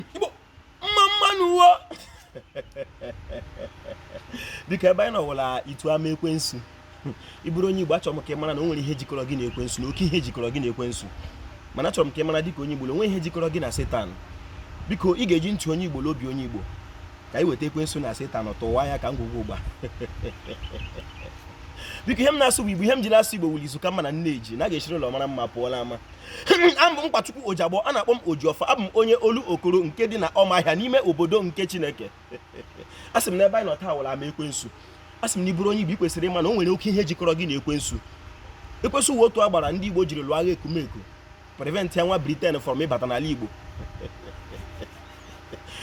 igbo mma mma nụ wo dịka ebe anyị nọ wụ la itu ama ekwensu ị bụrụ onye igbo achọrọ m ka ị mara na o nwere ihe jikọrọ gị na ekwensu na oke ihe jikọrọ gị na ekwensu mana achọrọ m ka ị mara dịka onye igbo na o nweghị ihe jikọrọ gị na setan biko ị ga-eji ntị onye igbo na obi onye igbo ka anyị weta ekwensu na setan tụwa ya ka ngwugwu ụgba biko ihe m na-asụ bụ igbo ihe m ji na-asụ igbo wụ la izu ka mma na nne ji na a ga-esiri ụlọ mara mma pụọ la ama abụ m Nkwachukwu Ojiagbọ a na-akpọ m Ojiọfọ abụ m onye Olokoro nke dị na Ọmahịa n'ime obodo nke Chineke a sị m n'ebe anyị nọ taa wụ la ama ekwensu a sị m na ị bụrụ onye Igbo i kwesịrị ịma na o nwere oke ihe jikọrọ gị na ekwensu ekwensu wụ otu agbara ndị Igbo jiri lụọ agha ekumeku prevent ya nwa Britain from ịbata n'ala Igbo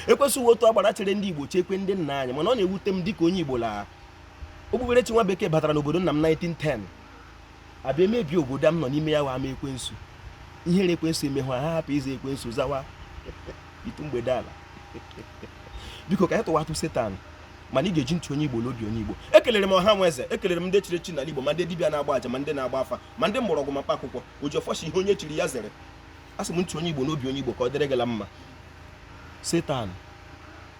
ekwensu wụ otu agbara chere ndị Igbo chekwe ndị nna anyị mana ọ na-ewute m dịka onye Igbo la okpukperechi nwa bekee batara n'obodo nna m 1910 abịa mebie obodo a m nọ n'ime ya wụ ama ekwensu ihere ekwensu emee ha ha hapụ ịza ekwensu zawa itu mgbedeala biko ka anyị tụwatụ setan mana ị ga-eji ntị onye igbo na obi onye igbo ekelere m ọha na eze ekelere m ndị chiri chi n'ala igbo ma ndị dibịa na-agba aja ma ndị na-agba afa ma ndị mgbọrọgwụ ma mkpa akwụkwọ ojiọfọ sị ihe onye chiri ya zere asị m ntị onye igbo na obi onye igbo ka ọ dịrị gị la mma setan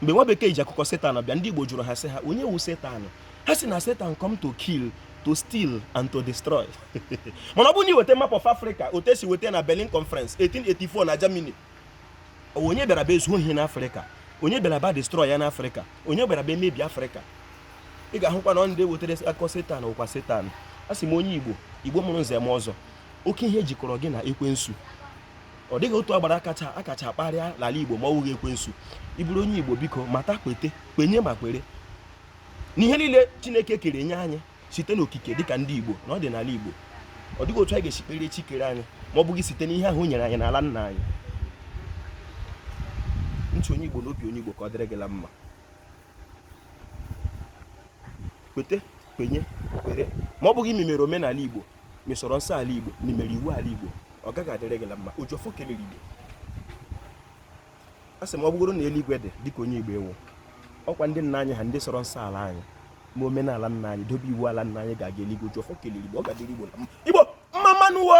mgbe nwa bekee ji akụkọ setan bịa ndị igbo jụrụ ha sị ha onye wụ setan ha sị na Satan come to kill to steal and to destroy mana ọ bụrụ na i weta map of Africa otu e si weta na Berlin Conference 1884 na Germany onye bịara bịa zuo ihe n'Africa onye bịara bịa destroy ya n'Africa onye bịara bịa mebie Africa ị ga-ahụkwa na ndị wetara akụkọ Satan wụkwa Satan a sị m onye Igbo Igbo mụrụ nze na ọzọ oke ihe jikọrọ gị na ekwensu ọ dịghị otu agbara a kacha akacha kparịa n'ala Igbo ma ọ wụghị ekwensu ị bụrụ onye Igbo biko mata kwete kwenye ma kwere na ihe niile chineke kere nye anyị site n'okike dịka ndị igbo na ọdịnala igbo ọ dịghị otu anyị ga-esi kpere chi kere anyị ma ọ bụghị site n'ihe ahụ o nyere anyị n'ala nna anyị ntị onye igbo na obi onye igbo ka ọ dịrị gị la mma kwete kwenye kwere ma ọ bụghị ma i mere omenala igbo ma ị sọrọ nsọ ala igbo ma i mere iwu ala igbo ọ gaghị adịrị gị la mma ojiọfọ kelere igbo a sị m ọ bụgoro na eluigwe dị dịka onye igbo ị wụ ọ kwa ndị nna anyị ha ndị sọrọ nsọ ala anyị ma omenala nna anyị dobe iwu ala nna anyị ga-aga eluigwe ojiọfọ kelere igbo ọ ga-adịrị igbo la mma igbo mma mma nụ wo